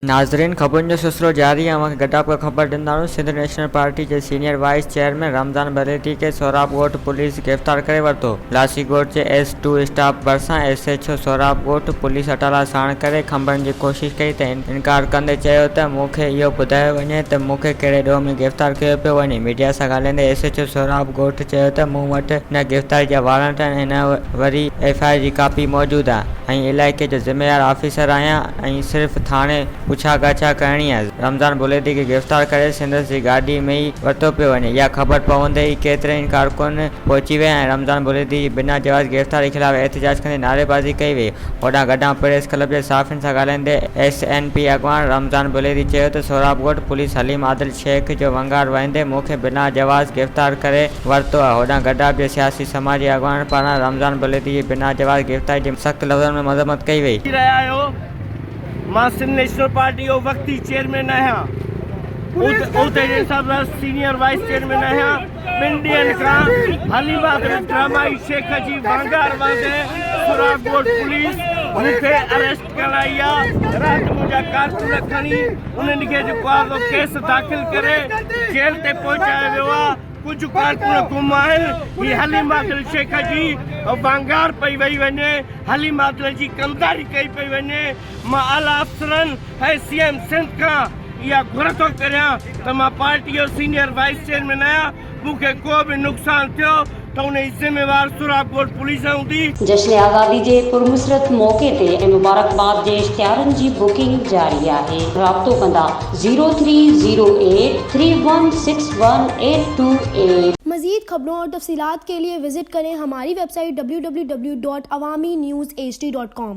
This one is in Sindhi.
ناظرين خبرن جو سلسلو جاري آهي اوهان کي گڏاپ ڪري خبر ڏينداسون سنڌ نيشنل پارٽي جي senior vice chairman Ramzan Buledi کي سهراب ڳوٺ پوليس گرفتار ڪري ورتو لاسي ڳوٺ جي ايس ٽو اسٽاپ ڀرسان ايس ايڇ او سهراب ڳوٺ پوليس اٽالا ساڻ ڪري کنڀڻ جي ڪوشش ڪئي ته ان انڪار ڪندي چيو ته مون کي اهو ٻڌايو وڃي ته مون کي ڪهڙي ڏوهه ۾ گرفتار ڪيو پيو وڃي. ميڊيا سان ڳالهائيندي ايس ايڇ او سهراب ڳوٺ چيو ته مون وٽ نه گرفتاري جا وارنٽ آهن ۽ نه وري ايف آء آر جي ڪاپي موجود آهي ۽ علائقي جو ذميوار آفيسر آهيان ۽ صرف ٿاڻي پڇا ڳاڇا ڪرڻي آهي، رمضان بلويدي کي گرفتار ڪري سندس جي گاڏي ۾ ئي ورتو پيو وڃي، اها خبر پوندي ئي ڪيترائي ڪارڪن پهچي ويا ۽ رمضان بلويدي جي بنا جواز گرفتاري خلاف احتجاج ڪندي نعريبازي ڪئي وئي. هوڏانهن گڏهه پريس ڪلب جي صحافين سان ڳالهائيندي ايس اين پي اڳواڻ رمضان بليري چيو ته سهراب ڳوٺ پوليس حليم عادل شيخ جو ونگار وهندي مون کي بنا جواز گرفتار ڪري ورتو آهي هوڏانهن گڏهه جي سياسي سماجي اڳواڻن پاران رمضان بليري جي بنا جواز گرفتاري جي سخت لفظن ۾ مذمت ڪئي وئي. ڪري رهيا آهيو مان سنڌ نيشنل پارٽي جو وقتي چيئرمين آهيان عهدي جي حساب سان سينيئر وائيس چيئرمين آهيان. ٻن ڏينهن کان حليم آگري ڊرامائي شيخ جي وانگار وانگي سوراخ ڳوٺ پوليس مون کي اريسٽ ڪرائي آ، رات منهنجا ڪارڪن کڻي ان نگهي جو ڪوازو ڪيس داخل ڪري جيل تي پهچايو ويو آ، ڪجهه ڪارڪن گم آهن، هي حليم آگري شيخ جي وانگار پئي وئي وڃي، حليم آگري جي ڪمداري ڪئي پئي وڃي. مان اعليٰ افسرن ۽ سي ايم سنڌ کان اها گهر ٿو ڪريان ته مان پارٽي جو سينئر وائيس چيئرمين آهيان، مون کي ڪو به نقصان ٿيو ته ان جي ذميوار سوراب ڳوٺ پوليس هوندي. جشن آزادي جي پرمسرت موقعي تي ۽ مبارڪباد جي اشتهارن جي بڪنگ جاري آهي رابطو ڪندا zero three zero eight three one six one eight two eight. مزيد خبرون اور تفصيلات کے لئے وزٹ کریں ہماری ویب سائٹ www.awaminewsHD.com.